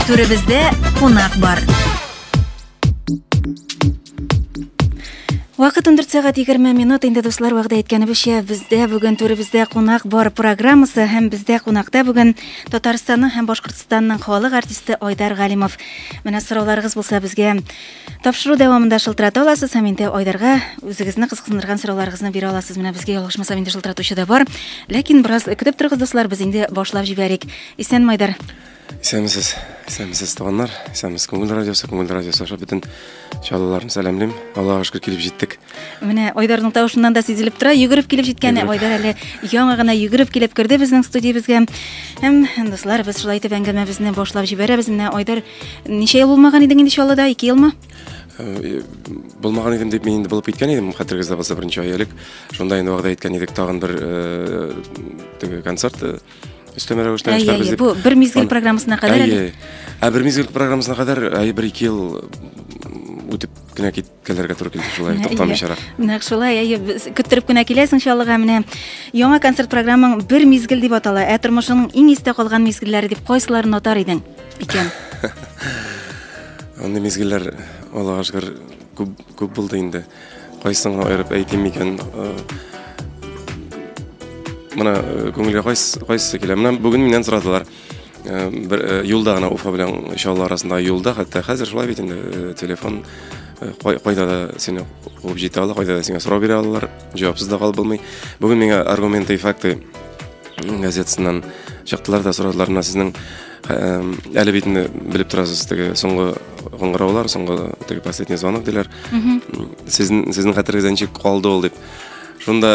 Түребездә кунак бар. Вакыт 14 сәгать 20 минут инде дуслар вәгъдә иткәнебезчә бездә бүген түребездә кунак бар программасы һәм бездә кунакта бүген Татарстанның һәм Башкортстанның халык артисты Айдар Галимов. Менә сорауларыгыз булса безгә тапшыру дәвамында шылтырата аласыз һәм инде Айдарга үзегезне кызыксындырган сорауларыгызны бирә аласыз. Менә безгә ялгышмасам инде шылтыратучы да бар. Ләкин бераз көтеп торыгыз дуслар, без инде башлап җибәрик. Исән Майдар. Исәнмесез, исәнмесез, туганнар, исәнмесез, Күңел радиосы, Күңел радиосы аша бөтен чаллыларны сәламлим. Аллаһуга шөкер килеп җиттек. Менә Айдарның тавышыннан да сизелеп тора, йөгереп килеп җиткән Айдар әле яңа гына йөгереп килеп керде безнең студиябезгә. Һәм дуслар, без шулай итеп әңгәмәбезне башлап җибәрәбез. Менә Айдар, ничә ел булмаган идең инде Чаллыда? 2 елмы? Э, булмаган идем дип мин инде булып киткән идем хәтерегездә булса берничә ай элек шунда инде вәгъдә иткән идек тагын бер э, теге концерт э, өстәмә рәвештә әйе әйе бу бер мизгел программасына кадәр әле ә бер мизгел программасына кадәр әйе бер ике ел үтеп кенә киткәләргә туры килде шулай туктамыйчарак нәкъ шулай әйе көттереп кенә киләсең чаллыга менә яңа концерт программаң бер мизгел дип атала ә тормышыңның иң истә калган мизгелләре дип кайсыларын атар идең икән андый мизгелләр аллага шөкер күп күп булды инде Кайсыңа аерып әйтим икән? Менә күңелгә кайсы кайсы килә? Менә бүген миннән сорадылар. Бер юлда гына Уфа белән Чаллы арасында юлда, хәтта хәзер шулай бит инде телефон кайда да сине куып җитә ала, кайда да сиңа сорау бирә алалар, җавапсыз да калып булмый. Бүген миңа аргументы и факты газетасыннан чыктылар да сорадылар, менә сезнең Әле бит инде белеп торасыз, теге соңгы кыңгыраулар, соңгы теге последний звонок диләр. Сезнең сезнең хәтерегездә ничек калды ул дип. Шунда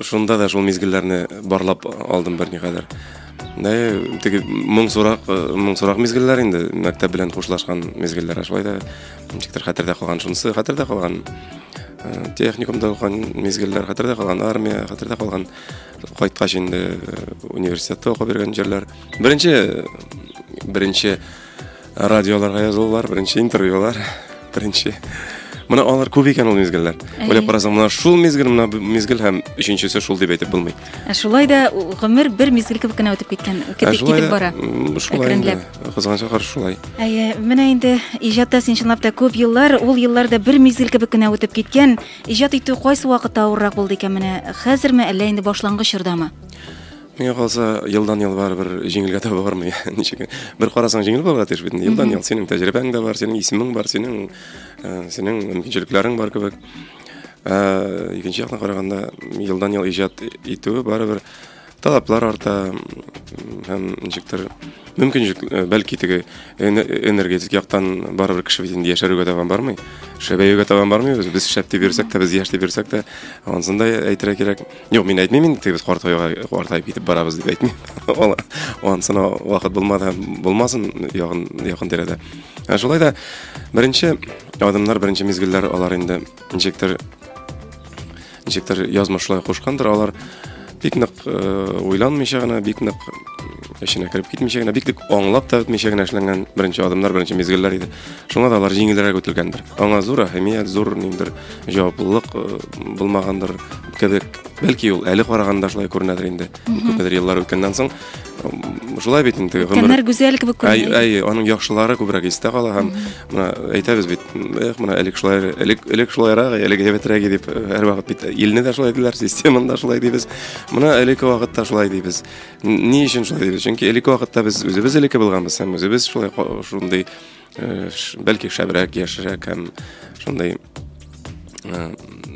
шунда да шул мизгелләрне барлап алдым бер никадәр. Дә теге моң сурак, моң сурак мизгелләр инде, мәктәп белән хушлашкан мизгелләр, шулай да ничектер хәтердә калган шунысы, хәтердә калган. Техникумда укыган мизгелләр, хәтердә калган армия, хәтердә калган кайткач инде университетта укып йөргән җирләр. Беренче беренче радиоларга язылулар, беренче интервьюлар, беренче Менә алар күп икән ул мизгелләр. Уйлап карасаң, менә шул мизгел, менә мизгел һәм өченчесе шул дип әйтеп булмый. Ә шулай да гомер бер мизгел кебек кенә үтеп киткән, китеп китеп бара. Шулай инде. Кызганычка каршы шулай. Әйе, менә инде иҗатта син чынлап та күп еллар, ул елларда бер мизгел кебек кенә үтеп киткән. Иҗат итү кайсы вакытта авыррак булды икән менә? Хәзерме, әллә инде башлангыч чордамы? Миңа калса, елдан-ел барыбер җиңелгә таба бармый. Ничек? Бер карасаң, җиңел булырга тиеш бит. Елдан-ел синең тәҗрибәң дә бар, синең исемең бар, синең э, синең мөмкинчелекләрең бар кебек. Ә, икенче яктан караганда, елдан-ел иҗат итүе барыбер талаплар арта һәм ничектер мөмкинчелек э, бәлки теге энергетик яктан барыбер кеше бит инде яшәрүгә таба бармый шәбәюгә таба бармыйбыз без шәп дип йөрсәк тә без яшь дип йөрсәк тә ансын да әйтергә кирәк Юк, мин әйтмим инде, без картайга картайып китеп барабыз дип әйтмим. Ул ансына вакыт булмады, булмасын ягын якын тирәдә. Ә шулай да беренче адымнар, беренче мизгелләр алар инде ничектер ничектер язмышлай кушкандыр алар бик нык э, уйланмыйча гына, бик нык эченә кереп китмичә генә, бик нык аңлап та бетмичә генә эшләнгән беренче адымнар, беренче мизгелләр иде. Шуңа да алар җиңелрәк үтелгәндер. Аңа зур әһәмият, зур ниндер җаваплылык э, булмагандыр кебек бәлки ул әле караганда шулай күренәдер инде күпмедер еллар үткәннән соң шулай бит инде гомер гүзәл кебек күренә әй аның яхшылары күбрәк истә кала һәм менә әйтәбез бит эх менә элек шулай элек элек шулайрак элек әйбәтрәк иде дип һәрвакыт бит илне дә шулай диләр системаны да шулай дибез менә элекке вакытта шулай дибез ни өчен шулай дибез чөнки элекке вакытта без үзебез элекке булганбыз һәм үзебез шулай шундый Э, бәлки шәбрәк яшерәк һәм шундый э,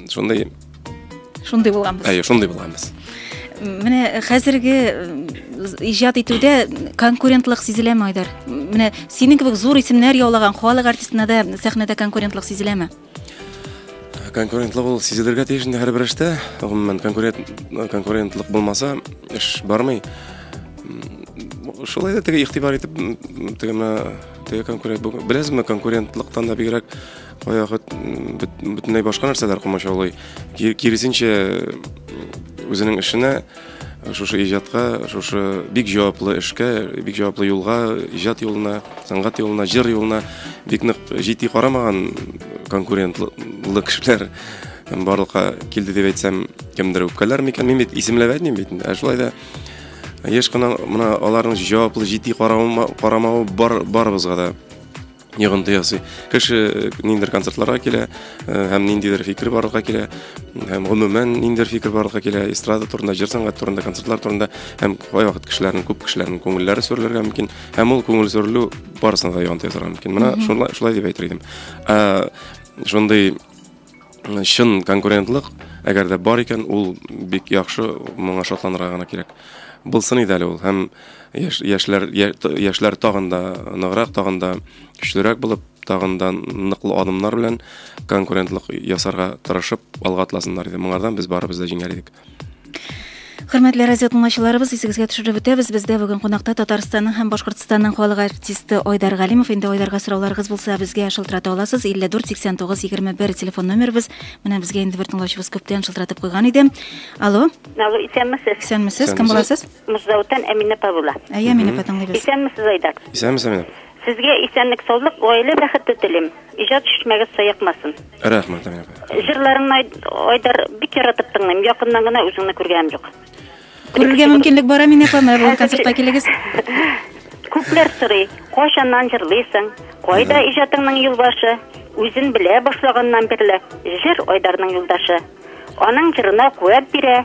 шундый шундый булганбыз әйе шундый булганбыз менә хәзерге иҗат итүдә конкурентлык сизеләме айдар менә синең кебек зур исемнәр яулаган халык артистына да сәхнәдә конкурентлык сизеләме конкурентлы булу сизелергә тиеш инде һәрбер эштә гомумән конкурентлык булмаса эш бармый шулай да теге игътибар итеп теге менә теге конкурент беләсезме конкурентлыктан да бигрәк баягы бөтенләй башка нәрсәләр комачаулый киресенчә үзенең эшенә Шушы иҗатка, шушы бик җаваплы эшкә, бик җаваплы юлга, иҗат юлына, сәнгать юлына, җыр юлына бик нык җитди карамаган конкурентлы кешеләр барлыкка килде дип әйтсәм, кемдер үпкәләр микән? Мин бит исемләп әйтмим бит. Ә шулай да еш кына мына аларның җаваплы җитди карамавы бар барыбызга да йогынты ясый. Кеше э, ниндидер концертларга килә э, һәм ниндидер фикер барлыкка килә һәм гомумән ниндидер фикер барлыкка килә эстрада турында, җыр сәнгать турында, концертлар турында һәм кайвакыт кешеләрнең күп кешеләрнең күңелләре сүрелергә мөмкин һәм ул күңел сүрелү барысына да йогынты ясарга мөмкин. Менә шулай шулай дип әйтер идем. Ә, шундый чын конкурентлык, әгәр дә бар икән, ул бик яхшы, моңа шатланырга гына кирәк. Булсын иде әле ул һәм яшьләр, яшьләр тагын да ныграк, тагын да көчлерәк булып, тагын да ныклы адымнар белән конкурентлык ясарга тырышып алга атласыннар иде. Моңардан без барыбыз да җиңәр идек. Хөрмәтле радио тыңлаучыларыбыз, исегезгә төшереп үтәбез, бездә бүген кунакта Татарстанның һәм Башкортстанның халык артисты Айдар Галимов. Инде Айдарга сорауларыгыз булса, безгә шылтырата аласыз. 54 89 21 телефон номерыбыз. Менә безгә инде бер тыңлаучыбыз күптән шылтыратып куйган иде. Алло. Алло, исәнмесез. Исәнмесез. Кем буласыз? Муждаутан Әминә Павла. Әйе, Әминә апа тыңлыйбыз. Исәнмесез, Айдар. Исәнмесез, Әминә. Сезгә исәнлек саулык, гаилә бәхете телим. Иҗат чишмәгез саекмасын. Рәхмәт, Амин апа. Җырларыңны Ай- Айдар бик яратып тыңлыйм. Якыннан гына үзеңне күргәнем юк. Күрергә мөмкинлек бар, Амин апа, менә бүген концертка килегез. Күпләр сорый, кайчаннан җырлыйсың, кайда иҗатыңның юлбашы? Үзен белә башлаганнан бирле, җыр Айдарның юлдашы. Аның җырына куәт бирә,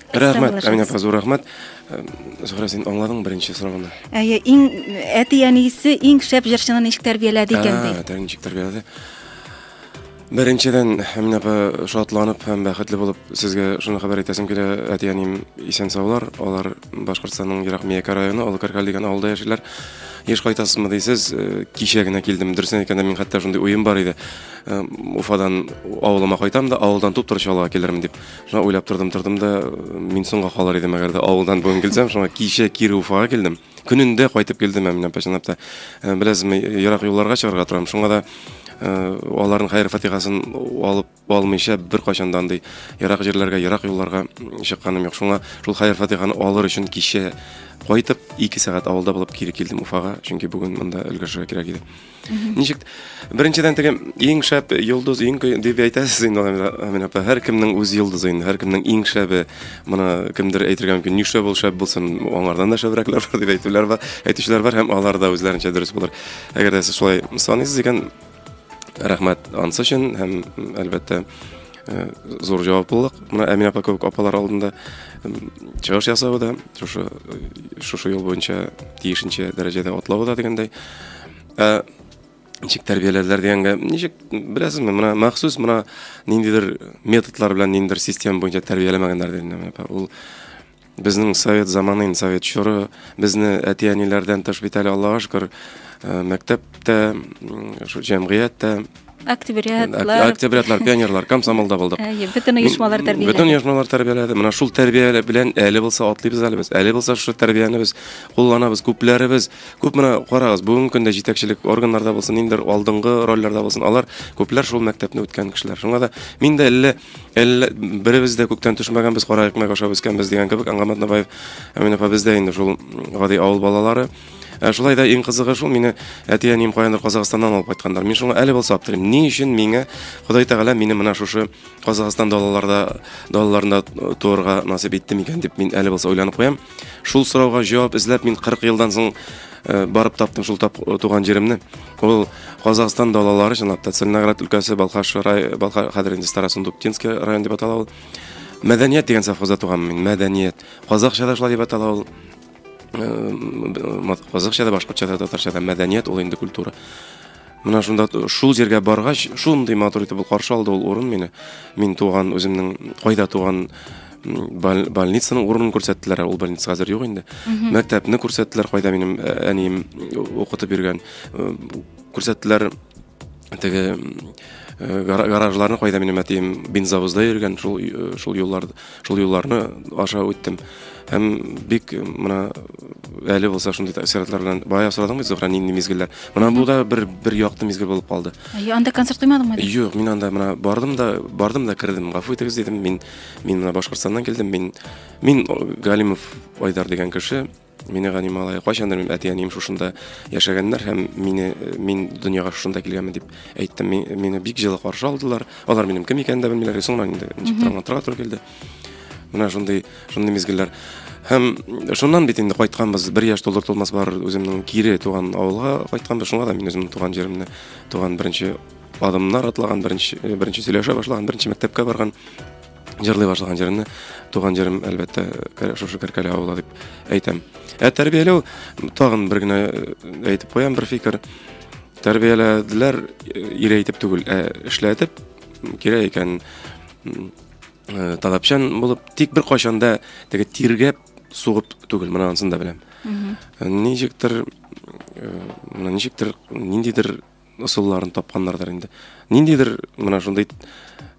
Рәхмәт, Әминә апа, зур рәхмәт. Э, Зөһрә, син аңладың беренче сорауны? Әйе, иң әти-әнисе иң шәп җырчыны ничек тәрбияләде икән ди? Ә, ничек тәрбияләде? Беренчедән, Әминә апа, шатланып һәм бәхетле булып сезгә шуны хәбәр итәсем килә. Әти-әнием исән саулар. Алар Башкортстанның Ерак Миякә районы, Олы Каркал дигән авылда яшиләр. Еш кайтасызмы дисез, э, кичә генә килдем. Дөресен әйткәндә, мин хәтта шундый уем бар иде. Э, Уфадан авылыма кайтам да, авылдан туп-туры чалга килермен дип. Шуңа уйлап тордым, тордым да, мин соңга калыр идем, әгәр дә авылдан бүген килсәм, шуңа кичә кире Уфага килдем. Көнендә кайтып килдем мин апа, чынлап та. Э, беләсезме, ерак юлларга чыгарга торам, шуңа да э, аларның хәер фатихасын алып алмыйча бер кайчанда андый ерак җирләргә, ерак юлларга чыкканым юк. Шуңа шул хәер фатиханы алыр өчен кичә кайтып, 2 сәгать авылда булып кире килдем Уфага, чөнки бүген монда өлгершергә кирәк иде. Ничек беренчедән теге иң шәп йолдыз иң дип әйтәсез инде Амина апа. Һәркемнең үз йолдызы инде, һәркемнең иң шәбе. Моны кемдер әйтергә мөмкин, ни шәп ул шәп булсын, аңардан да шәбрәкләр бар дип әйтүләр бар, әйтүчеләр бар һәм алар да үзләренчә дөрес булыр. Әгәр дә сез шулай саныйсыз икән, рәхмәт ансы өчен һәм әлбәттә э, зур җаваплылык. Менә Амина апа кебек апалар алдында чыгыш ясавы да, шушы э, шушы юл буенча тиешенчә дәрәҗәдә атлавы да дигәндәй. Ә ничек тәрбияләделәр дигәнгә, ничек беләсезме, менә махсус менә ниндидер методлар белән ниндидер система буенча тәрбияләмәгәннәр дидем. Ул безнең совет заманы, инде совет чоры, безне әти-әниләрдән тыш бит әле Аллага шөкер, мәктәптә, шул җәмгыятьтә октябрятлар октябрятлар пионерлар комсомолда булдык әйе бөтен оешмалар тәрбияләде бөтен оешмалар тәрбияләде менә шул тәрбия белән әле булса атлыйбыз әле без әле булса шул тәрбияне без кулланабыз күпләребез күп менә карагыз бүгенге көндә җитәкчелек органнарда булсын ниндидер алдынгы рольләрдә булсын алар күпләр шул мәктәпне үткән кешеләр шуңа да мин дә әллә әллә беребез дә күктән төшмәгәнбез кара икмәк ашап үскәнбез дигән кебек аңгамат набаев әмин апа без дә инде шул гади авыл балалары Ә шулай да иң кызыгы шул, мине әти-әнием каяндыр Казахстаннан алып кайтканнар. Мин шуңа әле булса аптырыйм. Ни өчен миңа Ходай Тәгалә мине менә шушы Казахстан далаларда далаларында туырга насыйп итте микән дип мин әле булса уйланып куям. Шул сорауга җавап эзләп мин 40 елдан соң э, барып таптым шул тап, э, туган җиремне. Ул Казахстан далалары чынлап та Целиноград өлкәсе, Балхаш рай, Балхаш хәзер инде Старосундуктинский район дип атала ул. Мәдәният дигән совхозда туган мин. Мәдәният. Казахча да шулай дип атала ул. Казакча да, башкортча да, татарча да мәдәният ул инде культура. Менә шунда шул җиргә баргач, шундый матур итеп ул каршы алды ул урын мине. Мин туган үземнең кайда туган больницаның урынын күрсәттеләр, ул больница хәзер юк инде. Мәктәпне күрсәттеләр, кайда минем э, әнием э, укытып йөргән. Э, күрсәттеләр теге гаражларны кайда минем әтием бензовозда йөргән, шул шул юлларда. Шул юлларны аша үттем. Һәм бик менә әле булса шундый тәэсиратлар белән бая сорадың бит Зөһрә нинди мизгелләр. Менә бу да бер бер якты мизгел булып калды. Әйе, анда концерт куймадыңмы? Юк, мин анда менә бардым да, бардым да кердем. Гафу итегез дидем. Мин мин менә Башкортстаннан килдем. Мин мин Галимов Айдар дигән кеше. Минегани малае, кайчандыр минем әти-әнием шушында яшәгәннәр һәм мине мин дөньяга шушында килгәнмен дип әйттем. Мине бик җылы каршы алдылар. Алар минем кем икәнен дә белмиләр. Соңрак инде ничек аңлатырга туры килде. Менә шундый шундый мизгелләр. Һәм шуннан бит инде кайтканбыз, бер яшь тулыр тулмас бар үземнең кире туган авылга кайтканбыз. Шуңа да мин үземнең туган җиремне, туган беренче адымнар атлаган, беренче беренче сөйләшә башлаган, беренче мәктәпкә барган җырлый башлаган җырны туган җырым әлбәттә шушы кәркәле авылы дип әйтәм ә тәрбияләү тагын бер генә э, әйтеп куям бер фикер тәрбияләделәр э, ире әйтеп түгел ә эшләтеп кирәк икән э, талапчан булып тик бер кайчанда теге тиргәп сугып түгел менә анысын да беләм ничектер менә ничектер ниндидер ысулларын тапканнардыр инде ниндидер менә шундый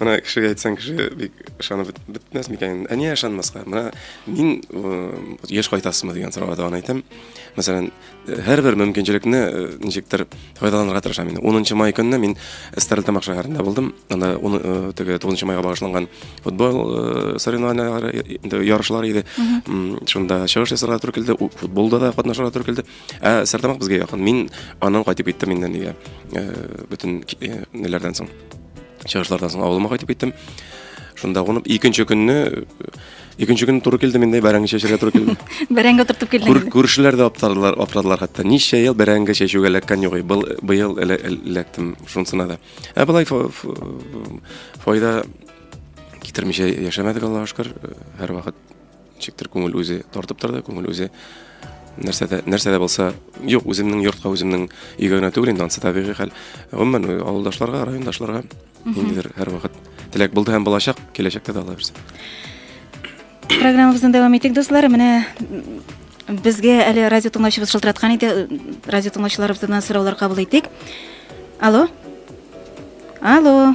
Менә кешегә әйтсәң, кеше бик ышанып бетмәс микән? Ә нигә ышанмаска? Менә мин еш кайтасызмы дигән сорауга да аны әйтәм. Мәсәлән, һәрбер мөмкинчелекне э, ничектер файдаланырга тырышам инде. 10 май көнне мин Стәрлетамак шәһәрендә булдым. Анда уны э, теге 9 майга багышланган футбол э, соревнованияләре инде ярышлар иде. Шунда чыгыш ясарга туры килде, футболда да катнашырга туры килде. Ә Стәрлетамак безгә якын. Мин аннан кайтып киттем инде нигә? Бөтен неләрдән соң. чыгышлардан соң авылыма кайтып киттем шунда кунып икенче көнне икенче көнне туры килдем инде бәрәңге чәчәргә туры килде бәрәңге утыртып килдең күршеләр дә аптырадылар аптырадылар хәтта ничә ел бәрәңге чәчүгә эләккән юк был быел эләктем шунысына да ә болай файда китермичә яшәмәдек аллага шөкер һәрвакыт Ничектер күңел үзе тартып торды, күңел үзе нәрсә дә нәрсә дә булса, юк, үземнең йортка, үземнең өйгә генә түгел инде, ансы табигый хәл. Гомумән, авылдашларга, райондашларга ниндидер һәрвакыт теләк булды һәм булачак, киләчәктә дә алабыз. Программабызны дәвам итик, дуслар. Менә безгә әле радио тыңлаучыбыз шылтыраткан иде. Радио тыңлаучыларыбыздан сораулар кабул итик. Алло. Алло.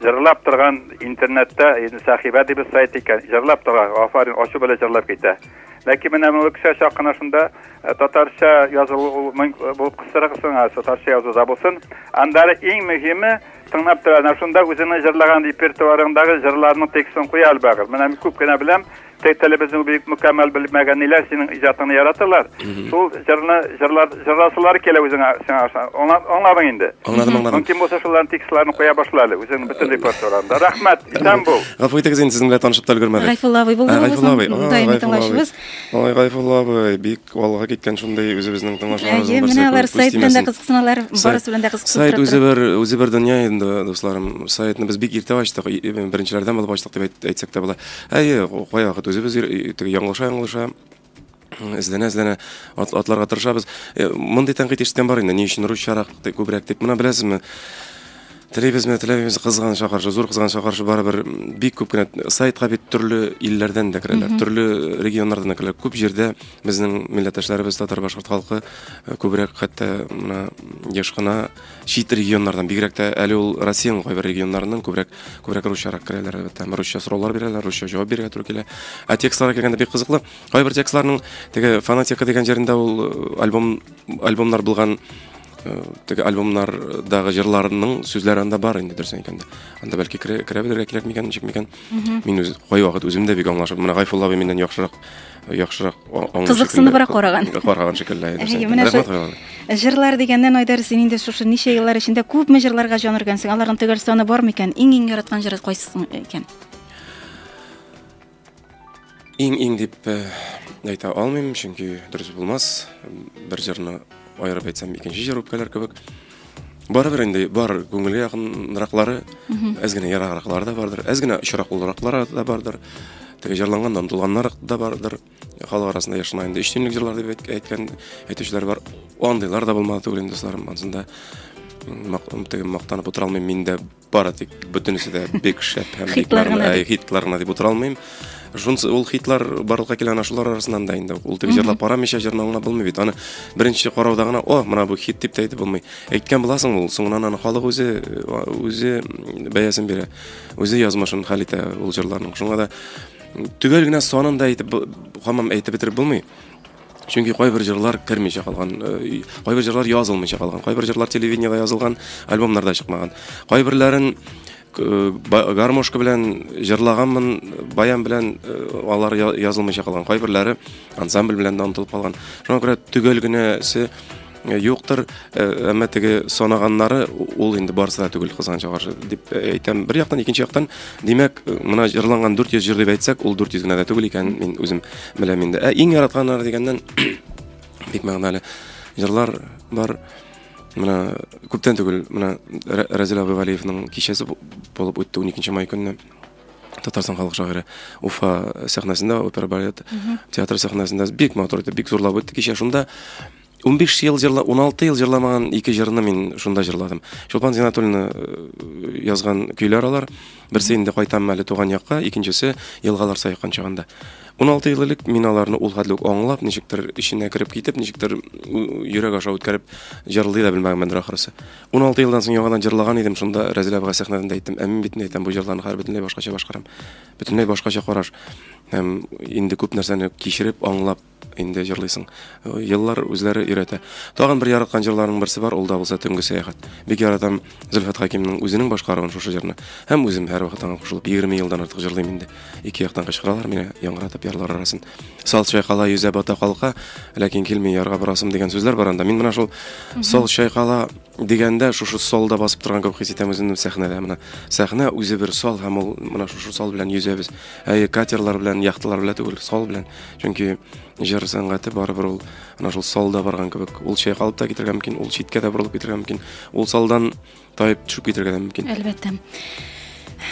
Җырлап торган интернетта, инде сәхибә дибез сайт икән, җырлап тора, афарин, ачу белән җырлап китә. Ләкин менә моны кешегә чак кына шунда э, татарча язылу ул мөң- э, булып кыстырыгыз сиңа, татарча язуда булсын. Аннары иң мөһиме, тыңлап тора, менә шунда үзеңнең җырлаган репертуарыңдагы җырларның текстын куя әлбәгер. Менә мин күп кенә беләм, Тел телебезне бик мөкәммәл белмәгәниләр, синең иҗатыңны яратырлар. Шул җырны җырлар җырласылар килә үзеңә сиңа аша. Аңладың инде. Аңладым, аңладым. Мөмкин булса шуларның текстларын куя башла әле үзең бөтен репертуарында. Рәхмәт, исән бул. Гафу итегез инде, сезнең белән танышып та өлгермәдек. Гайфулла абый булды бу безнең даими тыңлаучыбыз. Ой, Гайфулла абый, бик Алга киткән шундый үзебезнең тыңлаучыларыбыз Әйе, менә алар сайт белән дә кызыксыналар, барысы белән дә кызыксынып Сайт үзе бер үзе бер дөнья инде, дусларым. Сайтны без бик иртә ачтык, беренчеләрдән булып ачтык дип әйтсәк тә була. Әйе, кая вакыт үзебез яңлыша яңлыша эзләнә эзләнә атларга тырышабыз. Мондый тәнкыйть ишеткән бар инде, ни өчен русчарак, күбрәк дип. Менә беләсезме, Теләйбезме, теләмибез, кызган чакырышы, зур кызган чакырышы барыбер бик күп кенә сайтка бит төрле илләрдән дә керәләр, төрле регионнардан да керәләр. Күп җирдә безнең милләттәшләребез, татар, башкорт халкы э, күбрәк хәтта менә еш кына чит регионнардан, бигрәк тә әле ул Россиянең кайбер регионнарыннан күбрәк күбрәк русчарак керәләр, әлбәттә. Русча сораулар бирәләр, русча җавап бирергә туры килә. Ә текстларга килгәндә бик кызыклы. Кайбер текстларның теге фанатика дигән җирендә ул э, альбом альбомнар булган э, теге альбомнардагы җырларның сүзләре анда бар инде дөресен әйткәндә анда бәлки керә, керә белергә кирәк микән ничек микән мин үз кайвакыт үзем дә бик аңлашып менә гайфулла абый миннән яхшырак яхшырак кызыксыныбрак караган караган шикелле әйе җырлар дигәннән айдар син инде шушы ничә еллар эчендә күпме җырларга җан өргәнсең аларның төгәл саны бар микән иң иң яраткан җыры кайсы икән Иң-иң дип әйтә алмыйм, чөнки дөрес булмас. Бер җырны аерып әйтсәм, икенче җыр үпкәләр кебек. Барыбер инде бар күңелгә якынраклары, әз генә ераграклары да бардыр, әз генә очрак булраклары да бардыр. Теге җырланганнан тулганнар да бардыр. Халык арасында яшына инде өч төнлек җырлар дип әйткән әйтүчеләр бар. Андыйлар да булмады түгел инде, дусларым. Ансында теге мактанып утыра алмыйм, мин дә бары тик бөтенесе дә бик шәп һәм хитлар гына ә, хитлар гына дип утыра алмыйм шунысы ул хитлар барлыкка килгән ана шулар арасыннан да инде ул теге җырлап карамыйча җырны аңлап булмый бит аны беренче карауда гына о менә бу хит дип тә әйтеп булмый әйткән буласың ул соңыннан аны халык үзе үзе бәясен бирә үзе язмышын хәл итә ул җырларның шуңа да төгәл генә санын да әйтеп хамам әйтеп бетереп булмый Чөнки кайбер җырлар кермичә калган, э, кайбер җырлар язылмыйча калган, кайбер җырлар телевидениеда язылган, альбомнарда чыкмаган. Кайберләрен э, гармошка белән җырлаганмын, баян белән э, алар язылмыйча калган. Кайберләре ансамбль белән дә онытылып калган. Шуңа күрә төгәл генәсе Э, юктыр э, әмма теге санаганнары ул инде барысы да түгел кызганычка каршы дип э, әйтәм бер яктан икенче яктан димәк мына җырланган 400 җыр дип әйтсәк ул 400 генә дә түгел икән мин үзем беләм инде ә иң яратканнары дигәннән бик мәгънәле җырлар бар менә күптән түгел менә Разил Абывалиевның кичәсе булып үтте 12 май көнне Татарстан халык шагыйре Уфа сәхнәсендә опера балет театры сәхнәсендә бик матур итеп бик зурлап үтте кичә шунда 15 ел җырла, 16 ел җырламаган ике җырны мин шунда җырладым. Чулпан Зинатуллина э, язган көйләр алар. Берсе инде кайтам әле туган якка, икенчесе елгалар саякан чагында. 16 ел элек мин аларны ул хәтле үк аңлап, ничектер эченә кереп китеп, ничектер йөрәк аша үткәреп җырлый да белмәгәнмендер ахрысы. 16 елдан соң яңадан җырлаган идем, шунда Рәзилә абыга сәхнәдән әйттем, ә мин бит не әйтәм, бу җырларны хәзер бөтенләй башкача башкарам. Бөтенләй башкача караш. Һәм инде күп нәрсәне кичереп, аңлап, инде җырлыйсың. Еллар үзләре өйрәтә. Тагын бер яраткан җырларның берсе бар, ул да булса Төнге сәяхәт. Бик яратам Зөлфәт Хакимның үзенең башкаруын шушы җырны. Һәм үзем һәрвакыт аңа кушылып 20 елдан артык җырлыйм инде. Ике яктан кычкыралар мине, яңгыратып ярлар арасын. Сал чайкала, йөзә, бата, калка, ләкин килми ярга барасым дигән сүзләр бар анда. Мин менә шул сал чайкала Дигәндә, шушы солда басып торган кебек хис итәм үземне сәхнәдә. Менә сәхнә үзе бер сал һәм ул менә шушы сал белән йөзәбез. Әйе, катерлар белән, яхталар белән түгел, сал белән. Чөнки җыр сәнгате барыбер ул менә шул салда барган кебек. Ул чайкалып та китергә мөмкин, ул читкә дә борылып китергә мөмкин, ул салдан таеп төшеп китергә дә мөмкин. Әлбәттә.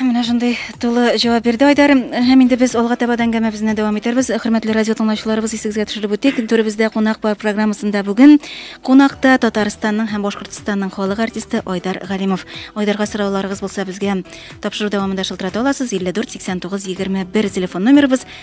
Менә шундый тулы җавап бирде Айдар. Һәм инде без алга таба да әңгәмәбезне дәвам итәрбез. Хөрмәтле радио тыңлаучыларыбыз, исегезгә төшереп үтик, түребездә кунак бар программасында бүген кунакта Татарстанның һәм Башкортстанның халык артисты Айдар Галимов. Айдарга сорауларыгыз булса, безгә тапшыру дәвамында шылтырата аласыз. 54 89 21 телефон номерыбыз.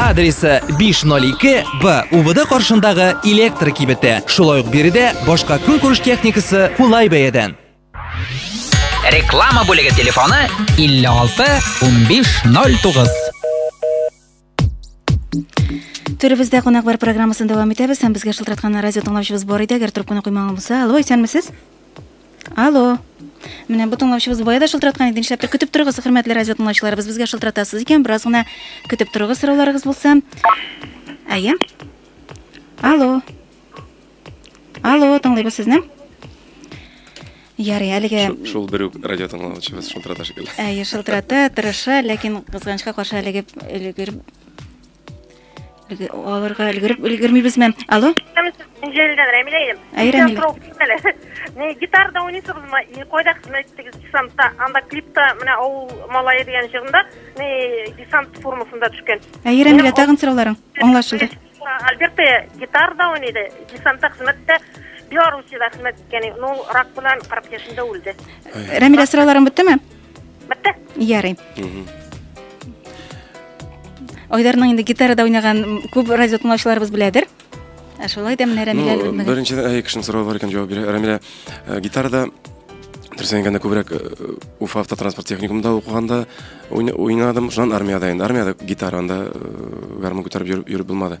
Адресы 502-Б УВД каршындагы электр кибете. Шулай ук биредә башка көнкүреш техникасы кулай бәядән. Реклама бүлеге телефоны 56 15 09. Төребездә кунак бар программасын дәвам итәбез һәм безгә шылтыраткан радио тыңлаучыбыз бар иде, әгәр трубканы куймаган булса. Алло, исәнмесез? Алло. Менә бу тыңлаучыбыз бая да шылтыраткан иде. Нишләптер көтеп торыгыз, хөрмәтле радио тыңлаучыларыбыз. Безгә шылтыратасыз икән, бераз гына көтеп торыгыз сорауларыгыз булса. Әйе. Алло. Алло, тыңлыйбыз сезне. Ярый, әлегә шул бер үк радио тыңлаучыбыз шылтырата шикелле. Әйе, шылтырата, тырыша, ләкин кызганычка каршы әлегә өлгереп Алырга өлгереп өлгермибезме? Алло? Җәлилдән Рәмилә идем. Әй, Рәмилә. Не гитарда уйныйсызмы? И кайда хезмәт иттегез десантта? Анда клипта менә авыл малае дигән җырында не десант формасында төшкән. Әй, Рәмилә, тагын сорауларың аңлашылды. Альберта гитарда уйныйды, десантта хезмәттә Белоруссиядә хезмәт иткән. Ну, рак белән 40 яшендә үлде. Рәмилә, сорауларың беттеме? Бетте. Ярый. Айдарның инде гитарада уйнаган күп радио тыңлаучыларыбыз беләдер. Ә шулай да менә Рәмилә ну, Беренчедән әй кешенең соравы бар икән җавап бирә. Рәмилә э, гитарада дөресен әйткәндә күбрәк э, Уфа автотранспорт техникумында укыганда уйнадым. Шуннан армиядә инде. Армиядә гитаранда э, гармун күтәреп йөреп булмады.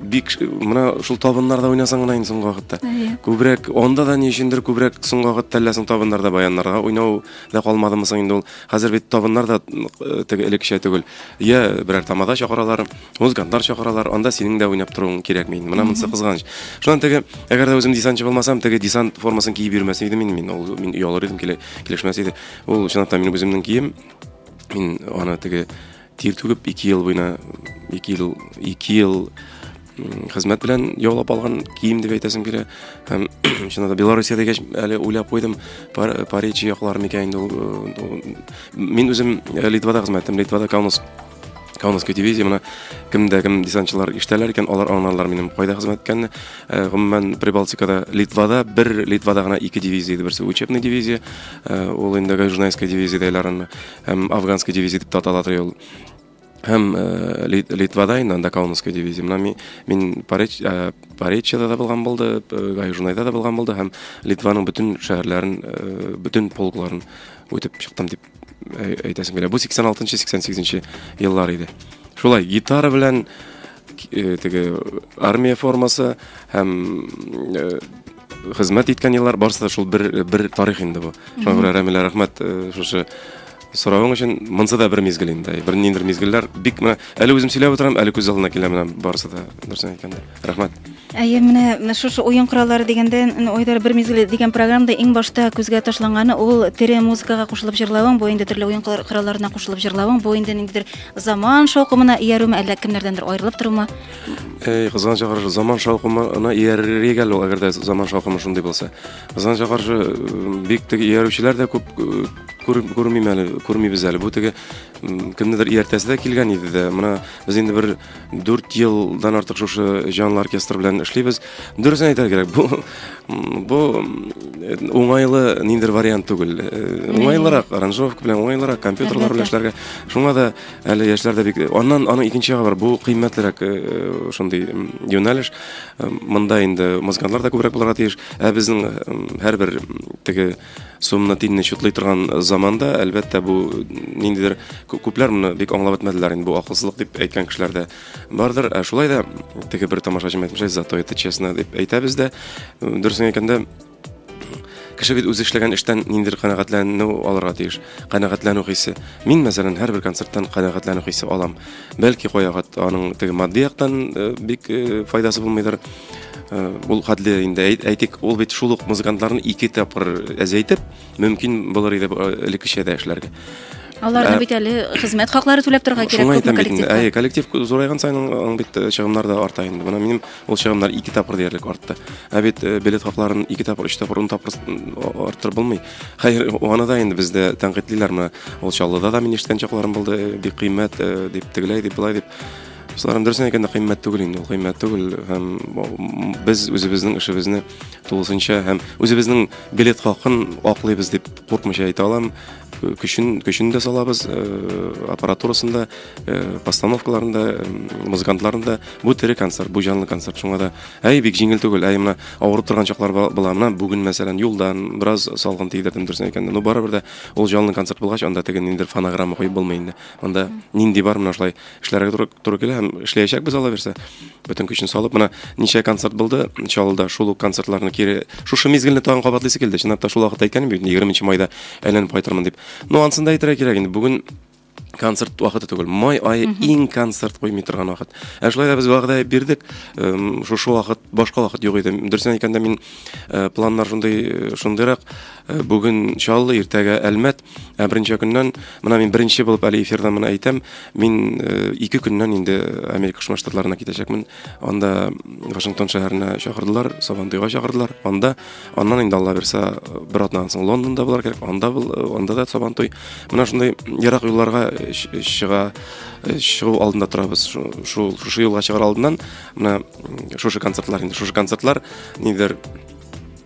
бик менә шул табыннарда уйнасаң гына инде соңгы вакытта күбрәк анда да ни өчендер күбрәк соңгы вакытта әллә соң табыннарда баяннарга уйнау да калмадымы соң инде ул хәзер бит табыннар да э, теге элеккечә түгел я берәр тамада чакыралар музыкантлар чакыралар анда синең дә уйнап торуың кирәкми менә монысы кызганыч шуннан теге әгәр дә үзем десантчы булмасам теге десант формасын киеп йөрмәс идем инде мин ул мин оялыр идем килешмәс иде ул чынлап та минем үземнең кием мин аны теге Тир түгеп ике ел буена ике ел ике ел хезмәт белән яулап алган кием дип әйтәсем килә һәм чыннан да белоруссия дигәч әле уйлап куйдым париж яклары микән инде э, мин үзем э, литвада хезмәт иттем литвада каунас Каунасский дивизия мына кемдә кем десантчылар ишетәләр икән, алар аңларлар минем кайда хезмәт иткәнне. Э, гомумән Прибалтикада, Литвада бер Литвада гына ике дивизия иде, берсе учебный дивизия, э, ул инде Гайжунайская дивизия дәйләрен. Һәм афганский дивизия дип атала торган ул. Һәм Литвада инде анда Каунасский дивизия. Менә мин мин Паречьяда да булган булды, Гайжунайда да булган булды һәм Литваның бөтен шәһәрләрен, бөтен полкларын үтеп чыктым дип әйтәсем килә. Бу 86-88 еллар иде. Шулай гитара белән теге армия формасы һәм Хезмәт иткән еллар барысы да шул бер бер тарих инде бу. Шуңа күрә Рәмилә рәхмәт э, шушы соравың өчен. Монсы да бер мизгел инде. Бер ниндер мизгелләр бик менә әле үзем сөйләп утырам, әле күз алдына килә менә барысы да дөресен әйткәндә. Рәхмәт. Әйе, менә менә шушы уен кораллары дигәндә, н- Айдар бер мизгел дигән программада иң башта күзгә ташланганы ул тере музыкага кушылып җырлавың, бу инде төрле уен кор- коралларына кушылып җырлавың, бу инде ниндидер заман шаукымына иярүме, әллә кемнәрдәндер аерылып торума. Эй, кызган чакырышы, заман шаукымына иярергә әле, әгәр дә заман шаукымы шундый булса. Кызган чакырышы бик теге иярүчеләр дә күп күрмим әле, күрмибез әле. Бу теге кемнедер ияртәсе дә килгән иде дә. Менә без инде бер 4 елдан артык шушы җанлы оркестр белән эшлибез. Дөресен әйтергә кирәк, бу бу уңайлы ниндер вариант түгел. Уңайлырак, аранжировка белән уңайлырак, компьютерлар белән эшләргә. Шуңа да Әле яшьләр дә бик аннан аның икенче ягы бар. Бу кыйммәтлерәк э, э, шундый м, юнәлеш. Э, Монда инде музыкантлар да күбрәк булырга тиеш. Ә безнең э, м, һәрбер м, теге сумны тинне чутлый торган заманда, әлбәттә, бу ниндидер кү- күпләр моны бик аңлап бетмәделәр инде. Бу акылсызлык дип әйткән кешеләр дә бардыр. Ә шулай да теге бер тамашачым әйтмешә, зато это честно дип әйтәбез дә. Э, Дөресен әйткәндә, Кеше бит үзе эшләгән эштән ниндидер канәгатьләнү алырга тиеш. Канәгатьләнү хисе. Мин, мәсәлән, һәрбер концерттан канәгатьләнү хисе алам. Бәлки каяга аның теге матди яктан э, бик э, файдасы булмыйдыр. Э, ул хәтле инде әйтик, ул бит шул ук музыкантларны ике тапкыр әзәйтеп, мөмкин булыр иде элеккечә дә эшләргә аларны ә, бит әле хезмәт хаклары түләп торырга кирәк шуңа әйтәм бит инде әйе коллектив зурайган саен аның бит э, чыгымнар да арта инде менә минем ул чыгымнар ике тапкыр диярлек артты ә бит э, билет хакларын ике тапкыр өч тапкыр ун тапкыр арттырып булмый хәер аны да инде бездә тәнкыйтьлиләр менә ул чаллыда да мин ишеткән чакларым булды э, бик кыйммәт дип тегеләй дип былай дип Сларым дөресен әйткәндә кыйммәт түгел инде, ул кыйммәт түгел һәм без үзебезнең эшебезне тулысынча һәм үзебезнең билет хакын аклыйбыз дип куркмыйча әйтә алам. Көчен, көчен дә салабыз, э, аппаратурасын да, э, постановкаларын да, э, музыкантларын да. Бу тере концерт, бу җанлы концерт. Шуңа да, әй, бик җиңел түгел, әй, менә авырып торган чаклар була. Менә бүген, мәсәлән, юлдан бераз салгын тидердем дөресен әйткәндә. Ну, барыбер дә ул җанлы концерт булгач, анда теге ниндидер фонограмма куеп булмый инде. Анда нинди бар, менә шулай эшләргә туры, туры килә һәм эшләячәкбез ала бирсә бөтен көчен салып менә ничә концерт булды чаллыда шул ук концертларны кире шушы мизгелне тагын кабатлыйсы килде чынлап та шул вакытта әйткәнем бит егерменче майда әйләнеп кайтырмын дип ну ансын да әйтергә кирәк инде бүген концерт вакыты түгел май айы иң концерт куймый торган вакыт ә шулай да без вәгъдә бирдек шушы вакыт башка вакыт юк иде дөресен әйткәндә мин э, планнар шундый э, шундыйрак э, бүген чаллы иртәгә әлмәт Ә беренче көннән, менә мин беренче булып әле эфирда моны әйтәм, мин э, ике көннән инде Америка Кушма Штатларына китәчәкмен. Анда Вашингтон шәһәренә чакырдылар, Сабантуйга чакырдылар. Анда, аннан инде Алла бирсә, бер атнадан соң Лондонда булар кирәк, анда, бул, анда да Сабантуй. Менә шундый ерак юлларга чыга, чыгу алдында торабыз. Шул, шушы юлга чыгар алдыннан, менә шушы концертлар инде, шушы концертлар, нидер,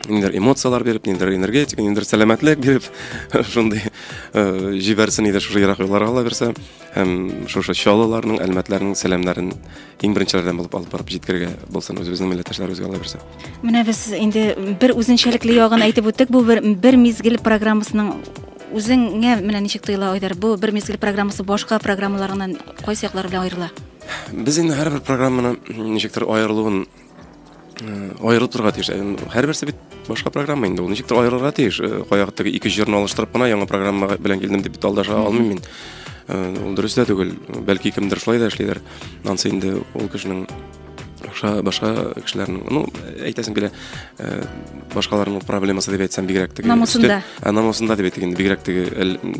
ниндидер эмоцияләр биреп ниндидер энергетика ниндидер сәламәтлек биреп шундый э, җибәрсен иде шушы ерак юлларга ала бирсә һәм шушы чалыларның әлмәтләрнең сәламнәрен иң беренчеләрдән булып алып барып җиткергә булсын үзебезнең милләттәшләребезгә ала бирсә менә без инде бер үзенчәлекле ягын әйтеп үттек бу бер, бер мизгел программасының үзеңә менә ничек тоела айдар бу бер мизгел программасы башка программаларыннан кайсы яклар белән аерыла без инде һәрбер программаны ничектер аерылуын аерылып торырга тиеш һәрберсе бит башка программа инде ул ничектер аерылырга тиеш каяк теге ике җырны алыштырып кына яңа программа белән килдем дип алдаша алмыйм мин ул дөрес тә түгел бәлки кемдер шулай да эшлидер ансы инде ул кешенең башка башка кешеләрнең ну әйтәсең килә э, башкаларның проблемасы дип әйтсәм бигрәк теге намусында ә, намусында дип әйтик инде бигрәк теге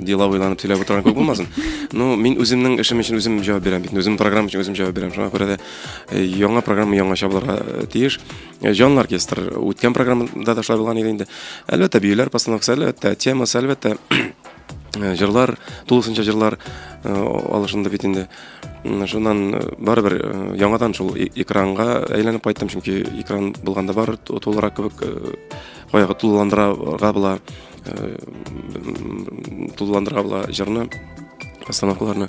дела уйланып сөйләп утырган күп булмасын ну мин үземнең эшем өчен үзем җавап бирәм бит үзем программа өчен үзем җавап бирәм шуңа күрә дә Яңа программа яңача булырга э, тиеш. Э, Җанлы оркестр үткән программада да шулай булган иде инде. Әлбәттә, биюләр постановкасы, әлбәттә, темасы, әлбәттә, э, җырлар, тулысынча җырлар алышынды бит инде. Шуннан барыбер яңадан шул э- экранга әйләнеп кайттым, чөнки экран булганда бар тулырак кебек баягы тулыландырырга була, тулыландырырга була җырны, постановкаларны.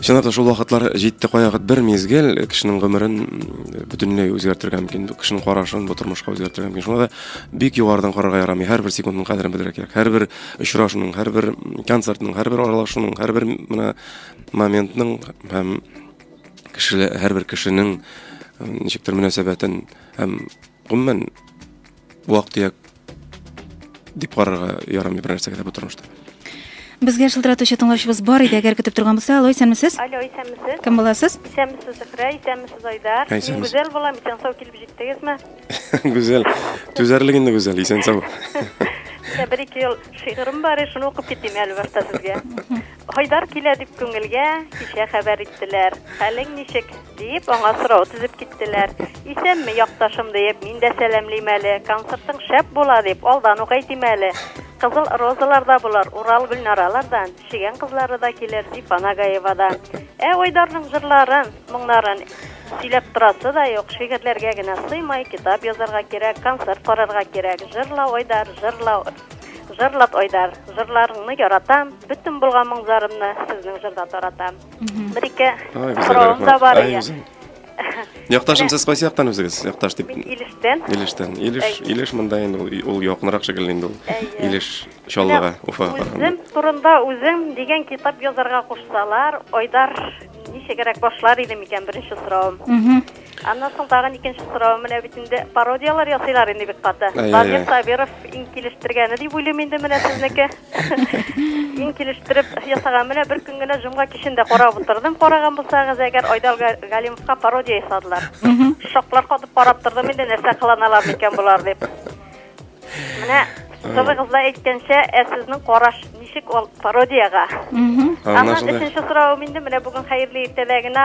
Чынлап та шул вакытлар җитте каягыт бер мизгел кешенең гомерен бөтенләй үзгәртергә мөмкин, кешенең карашын бу тормышка үзгәртергә мөмкин. Шуңа да бик югарыдан карарга ярамый. Һәрбер секундның кадерен белергә кирәк. Һәрбер очрашуның, һәрбер концертның, һәрбер аралашуның, һәрбер менә моментның һәм кешеле һәрбер кешенең ничектер мөнәсәбәтен һәм гомумән вак-төяк дип карарга ярамый бер нәрсәгә дә бу тормышта. Безгә шылтыратучы тыңлаучыбыз бар иде, әгәр көтеп торган булса, алло, исәнмесез? Алло, исәнмесез. Кем буласыз? Исәнмесез, Зөһрә, исәнмесез, Айдар. Ә, исәнмесез. Мин Гүзәл булам, исән сау килеп җиттегезме? Гүзәл, түзәрлек инде Гүзәл, исән сау. Менә бер-ике ел шигырем бар, шуны укып китим әле башта сезгә. Айдар килә дип күңелгә кичә хәбәр иттеләр. Хәлең ничек? диеп, аңа сорау тезеп киттеләр. Исәнме, якташым, диеп, мин дә сәламлим әле. Концертың шәп була, дип, алдан ук әйтим әле. Кызыл Розалар да булыр, Урал Гөлнаралар да, Чегән кызлары да килер, Зифа Нагаева да. Ә Айдарның җырларын, моңнарын сөйләп торасы да юк, шигырьләргә генә сыймай, китап язарга кирәк, концерт карарга кирәк. Җырла, Айдар, җырла! Жырлап Айдар, жырларыңны яратам, бөтен булган моңзарымны сезнең жырда таратам. Бер ике сорауым да бар ия. Якташым, сез кайсы яктан үзегез? Якташ дип. Мин Илештән. Илештән. Илеш, Илеш монда инде ул, ул якынрак шикелле инде ул. Илеш Чаллыга, Уфага караганда. Үзем турында үзем дигән китап язарга кушсалар, Айдар ничегрәк башлар иде микән? Беренче сорауым. Аннан соң тагын икенче соравым менә бит инде. Пародияләр ясыйлар инде бик каты. Данир Сабиров иң килештергәне дип уйлыйм инде менә сезнеке. Мин килештереп ясаган менә бер көн генә җомга кичен дә карап утырдым. Караган булсагыз, әгәр Айдал Галимовка пародия ясадылар. Шоклар катып карап тордым инде, нәрсә кыланалар микән болар дип. Менә Кызыгыз да әйткәнчә, ә сезнең караш ничек ул пародиягә? Аннан өченче соравым инде менә бүген хәерле иртәләгенә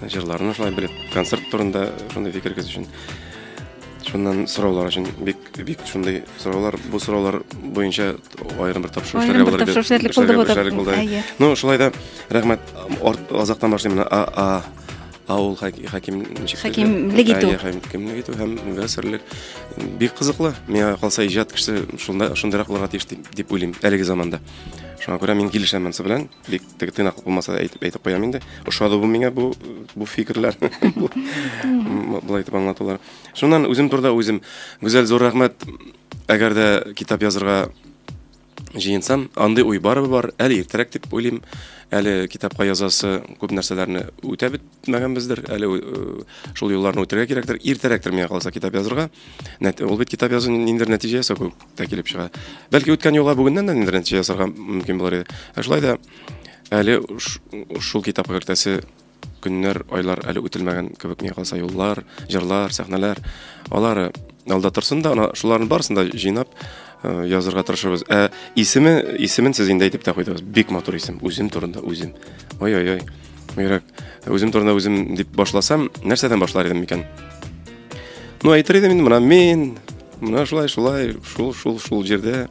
Җырларны шулай белеп, концерт турында шундый фикергез өчен. Шуннан сораулар өчен бик бик шундый сораулар, бу сораулар буенча аерым бер тапшыру эшләргә булыр. Тапшыру эшләрлек булды бу да. Ну, шулай да рәхмәт. Азактан башлыйм менә. А а авыл хаким хакимлек итү хакимлек итү һәм мөфәссирлек бик кызыклы миңа калса иҗат кеше шунда шундыйрак булырга тиеш дип уйлыйм әлеге заманда шуңа күрә мин килешәм монысы белән бик Теге тыйнаклык булмаса да әйтеп, әйтеп куям инде. Ошады бу миңа бу, бу фикерләр, былай итеп аңлатулар. Шуннан үзем турда үзем. Гүзәл, зур рәхмәт. Әгәр дә китап язырга җыенсам, андый уй барыбы бар, әле иртәрәк дип уйлыйм. Әле китапка язасы күп нәрсәләрне үтә бетмәгәнбездер, әле шул юлларны үтәргә кирәктер. Иртәрәктер миңа калса китап язырга. Ул бит китап язу ниндидер нәтиҗә ясау кебек. та килеп чыга. Бәлки үткән юлга бүгеннән дә нидер нәтиҗә ясарга мөмкин булыр иде. Ә шулай да әле шул китапка кертәсе көннәр, айлар әле үтелмәгән кебек миңа калса юллар, җырлар, сәхнәләр. Алары алда торсын да, ана шуларның барысын да җыйнап э, язырга тырышабыз. Ә исеме, исемен сез инде әйтеп тә куйдыгыз. Бик матур исем. Үзем турында үзем. Ой-ой-ой. Мирак, үзем турында үзем дип башласам, нәрсәдән башлар идем микән? Ну, әйтер идем инде, менә мин, менә шулай, шулай, шул, шул, шул җирдә,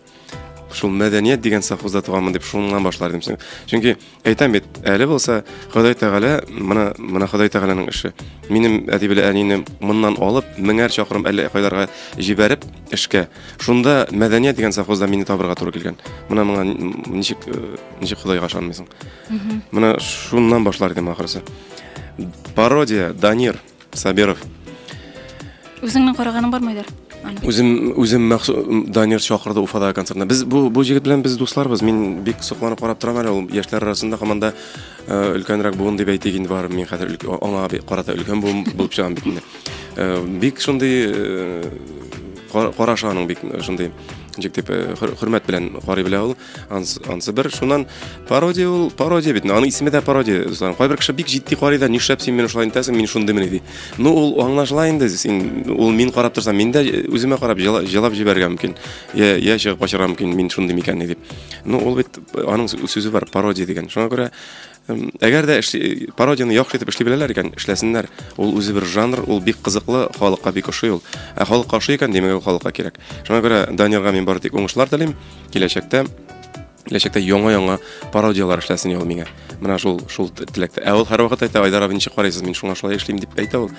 шул мәдәният дигән совхозда туганмын дип шуннан башлар идем. Чөнки әйтәм бит, әле булса Ходай Тәгалә, менә менә Ходай Тәгаләнең эше. Минем әти белән әнине моннан алып, меңәр чакрым әллә кайларга җибәреп эшкә. Шунда мәдәният дигән совхозда мине табырга туры килгән. Менә моңа ничек э, ничек Худайга ышанмыйсың? Менә шуннан башлар идем ахырсы. Пародия Данир Сабиров. Үзеңнең караганың бармы идер? Үзем үзем махсус Данир чакырды Уфадагы концертына. Без бу бу җегет белән без дусларбыз. Мин бик сокланып карап торам әле ул яшьләр арасында һаман да э, өлкәнрәк буын дип әйтик инде бар. Мин хәзер аңа карата өлкән буын булып чыгам бит инде. Э, бик шундый э, карашы аның бик шундый җик дип хөрмәт белән карый белә ул. Ансы, ансы бер шуннан пародия ул пародия бит. Аның исеме дә пародия. Зан кайбер кеше бик җитди карый да, нишләп син мине шулай итәсең, мин шундый мени ди. Ну ул аңлашыла инде. Син ул мин карап торсам, мин дә үземә карап җылап җибәргән мөмкин. Я я чыгып качарга мөмкин, мин шундый микәнни дип. Ну ул бит аның сүзе бар, пародия дигән. Шуңа күрә Әгәр дә пародияне яхшы итеп эшли беләләр икән, эшләсеннәр. Ул үзе бер жанр, ул бик кызыклы, халыкка бик ошый ул. Ә халыкка ошый икән, димәк, ул халыкка кирәк. Шуңа күрә Данирга мин бары тик уңышлар телим. Киләчәктә киләчәктә яңа-яңа пародияләр эшләсен ул миңа. Менә шул шул теләктә. Ә ул һәрвакыт әйтә, Айдар абый, ничек карыйсыз, мин шуңа шулай эшлим, дип әйтә ул.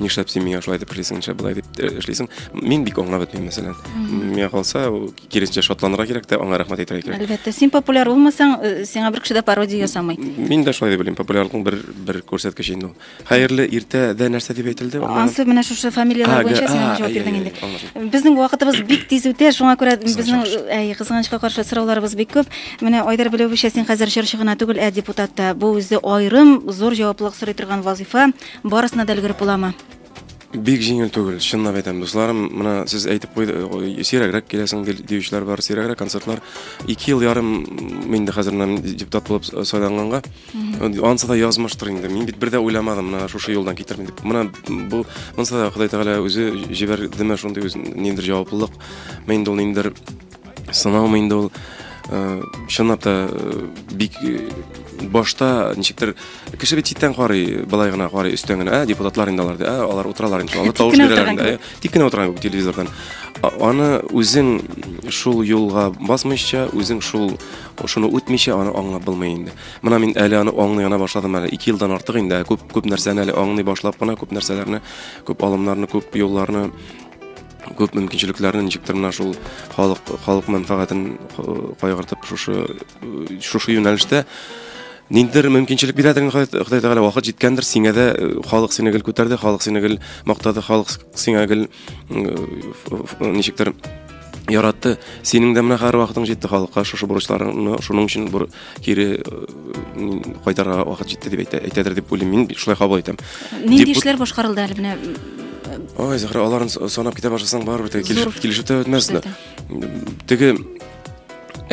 нишләп син миңа шулай дип эшлисең нишләп болай дип э, эшлисең мин бик аңлап бетмим мәсәлән миңа калса киресенчә шатланырга кирәк тә аңа рәхмәт әйтергә кирәк әлбәттә син популяр булмасаң э, сиңа бер кеше дә пародия ясамый мин дә шулай дип уйлыйм популярлыкның бер бер күрсәткече инде ул хәерле иртәдә нәрсә дип әйтелде ансы менә шушы фамилияләр буенча син җавап бирдең инде безнең вакытыбыз бик тиз үтә шуңа күрә безнең әй кызганычка каршы сорауларыбыз бик күп менә айдар беләвечә син хәзер җырчы гына түгел ә депутат та бу үзе аерым зур җаваплылык сорый торган вазифа Барысына да өлгереп буламы? Бик җиңел түгел, чынлап әйтәм, дусларым, моны сез әйтеп куйды, э, сирәгрәк киләсең ди- диючеләр бар, сирәгрәк концертлар. Ике ел ярым мин инде хәзер менә депутат булып с- сайланганга, анысы да язмыштыр инде. Мин бит бер дә уйламадым, менә шушы юлдан китермен дип. Менә бу монысы да Ходай Тәгалә үзе җибәрдеме шундый үз ниндидер җаваплылык, мә инде ул ниндидер сынаумы инде ул э, чынлап та э, бик э, башта ничектер кеше бит читтән карый былай гына карый өстән генә ә депутатлар инде алар ди ә алар утыралар инде алар тавыш бирәләр инде ә, тик кенә утырган кебек телевизордан аны үзең шул юлга басмыйча үзең шул шуны үтмичә аны аңлап булмый инде менә мин әле аны аңлый гына башладым әле ике елдан артык инде күп күп нәрсәне әле аңлый башлап кына күп нәрсәләрне күп алымнарны күп юлларны күп мөмкинчелекләрне ничек тә менә шул халык халык мәнфәгатен кайгыртып шушы шушы юнәлештә ниндидер мөмкинчелек бирәдер инде Ходай Тәгалә вакыт җиткәндер сиңа да э, халык сине гел күтәрде халык сине гел мактады халык сиңа гел ничектер яратты синең дә менә хәр вакытың җитте халыкка шушы бурычларыңны шуның өчен кире кайтарга вакыт җитте дип әйтә, әйтәдер дип уйлыйм мин шулай кабул итәм нинди эшләр башкарылды әле менә ой зәһрә аларын санап китә башласаң барыбер теге килешеп, килешеп тә бетмәс теге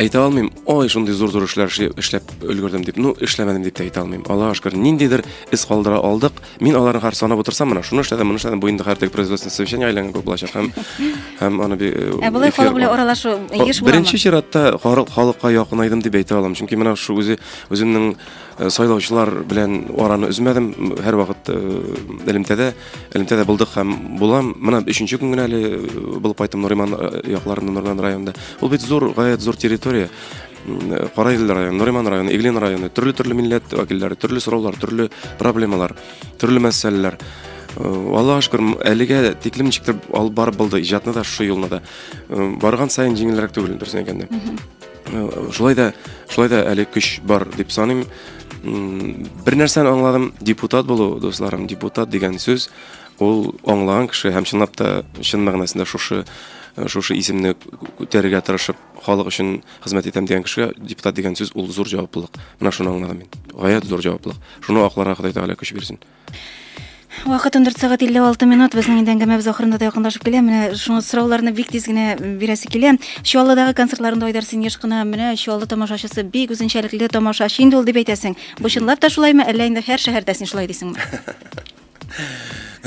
әйтә алмыйм ой шундый зур зур эшләр эшләп өлгердем дип ну эшләмәдем дип тә әйтә алмыйм аллага шөкер ниндидер эз калдыра алдык Мин аларны хәр санап утырсам, менә шуны эшләдем, моны эшләдем, бу инде хәр теге производственное совещание әйләнгән кебек булачак һәм һәм аны би- э, Ә болай эфир- халык белән аралашу Хо- еш буламы? Беренче чиратта халык- халыкка якынайдым дип әйтә алам. Чөнки менә шул үзе үземнең э, сайлаучылар белән араны өзмәдем. М, Һәр вакыт э, элемтәдә, элемтәдә булдык һәм булам. Менә өченче көн генә әле э, булып кайттым Нуриман э, якларында, Нуриман районында. Ул бит зур, гаять зур территория. Караиле районы, Нуриман районы, Иглин районы, төрле-төрле милләт вәкилләре, төрле сораулар, төрле проблемалар, төрле мәсьәләләр. Аллаһ шөкер, әлегә тиклем ничектер алып барып булды иҗатны да шушы юлны да. Барган саен җиңелрәк түгел, дөресен әйткәндә. Шулай да, шулай да әле көч бар дип саныйм. Бер нәрсәне аңладым, депутат булу, дусларым, депутат дигән сүз, ул аңлаган кеше һәм чынлап та, чын мәгънәсендә шушы шушы исемне күтәрергә тырышып Халык өчен хезмәт итәм дигән кешегә депутат дигән сүз ул зур җаваплылык. Менә шуны аңладым мин. Гаять зур җаваплылык. Шуны акларга Ходай Тәгалә көч бирсен. Вакыт 14 сәгать 56 минут. Безнең инде әңгәмәбез ахырына да якынлашып килә. Менә шуңа сорауларны бик тиз генә бирәсе килә. Чаллыдагы концертларында Айдар син еш кына менә Чаллы тамашачысы бик үзенчәлекле тамашачы инде ул дип әйтәсең. Бу чынлап та шулаймы, әллә инде һәр шәһәрдә син шулай дисеңме?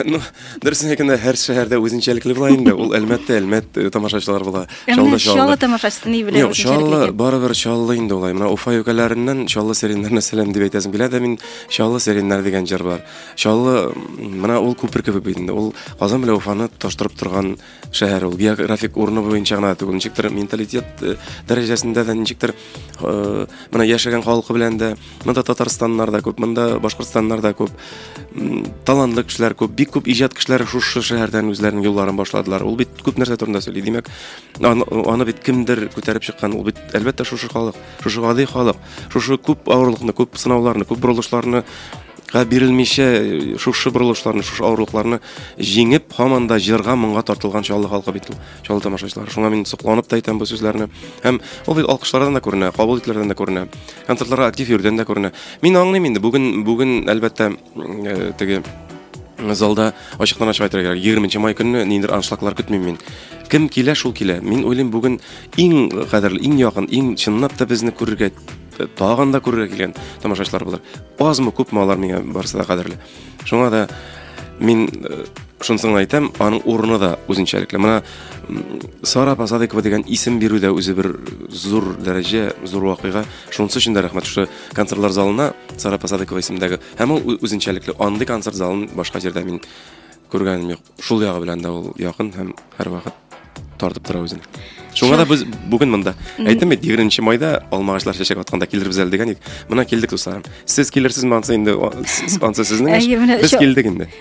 Ну, дөресен әйткәндә, һәр шәһәрдә үзенчәлекле була инде. Ул Әлмәттә, Әлмәт э, тамашачылар була. Чаллыда Чаллы Чаллы. тамашачысы ни белән Юк, үзенчәлекле Чаллы икән? барыбер Чаллы инде улай. Менә Уфа юкәләреннән Чаллы сиреннәренә сәлам дип әйтәсем килә дә мин Чаллы сиреннәр дигән җыр бар. Чаллы м, менә ул күпер кебек бит инде. Ул Казан белән Уфаны таштырып торган шәһәр ул географик урыны буенча гына түгел ничектер менталитет э, дәрәҗәсендә дә ничектер э, менә яшәгән халкы белән дә монда татарстаннар да күп монда башкортстаннар да күп талантлы кешеләр күп бик күп иҗат кешеләре шушы шәһәрдән үзләренең юлларын башладылар ул бит күп нәрсә турында сөйли димәк аны, аны бит кемдер күтәреп чыккан ул бит әлбәттә шушы халык Шушы гади халык, шушы күп авырлыкны, күп сынауларны, күп борылышларны га бирелмичә э, шушы борылышларны, шушы авырлыкларны җиңеп, һаман да җырга, моңга тартылган Чаллы халкы бит ул, Чаллы тамашачылары. Шуңа мин сокланып та әйтәм бу сүзләрне. Һәм ул бит алкышлардан да күренә, кабул ителүләрдән дә күренә, концертларга актив йөрүдән дә күренә. Мин аңлыйм инде, бүген, бүген әлбәттә, Теге залда ачыктан ачык әйтергә кирәк. 20 нче май көнне ниндидер аншлаглар көтмим мин. Кем килә, шул килә. Мин уйлыйм, бүген иң кадерле, иң якын, иң чынлап та безне күрергә тагын да күрергә килгән тамашачылар булыр. Азмы, күпме алар миңа барысы да кадерле. Шуңа да мин э, шунысын әйтәм, аның урыны да үзенчәлекле. Менә Сара Пасадыкова дигән исем бирү дә үзе бер зур дәрәҗә, зур вакыйга. Шунысы өчен дә рәхмәт шушы концертлар залына Сара Посадыкова исемендәге. Һәм ул үзенчәлекле андый концерт залын башка җирдә мин күргәнем юк. Шул ягы белән дә ул якын һәм һәрвакыт тартып тора үзен. Шуңа да без бүген монда. Әйттем бит, 20 майда алмагачлар чәчәк атканда килербез әле дигән идек. Менә килдек, дусларым. Сез килерсезме ансы инде, ансы сезнең эш. Без килдек инде.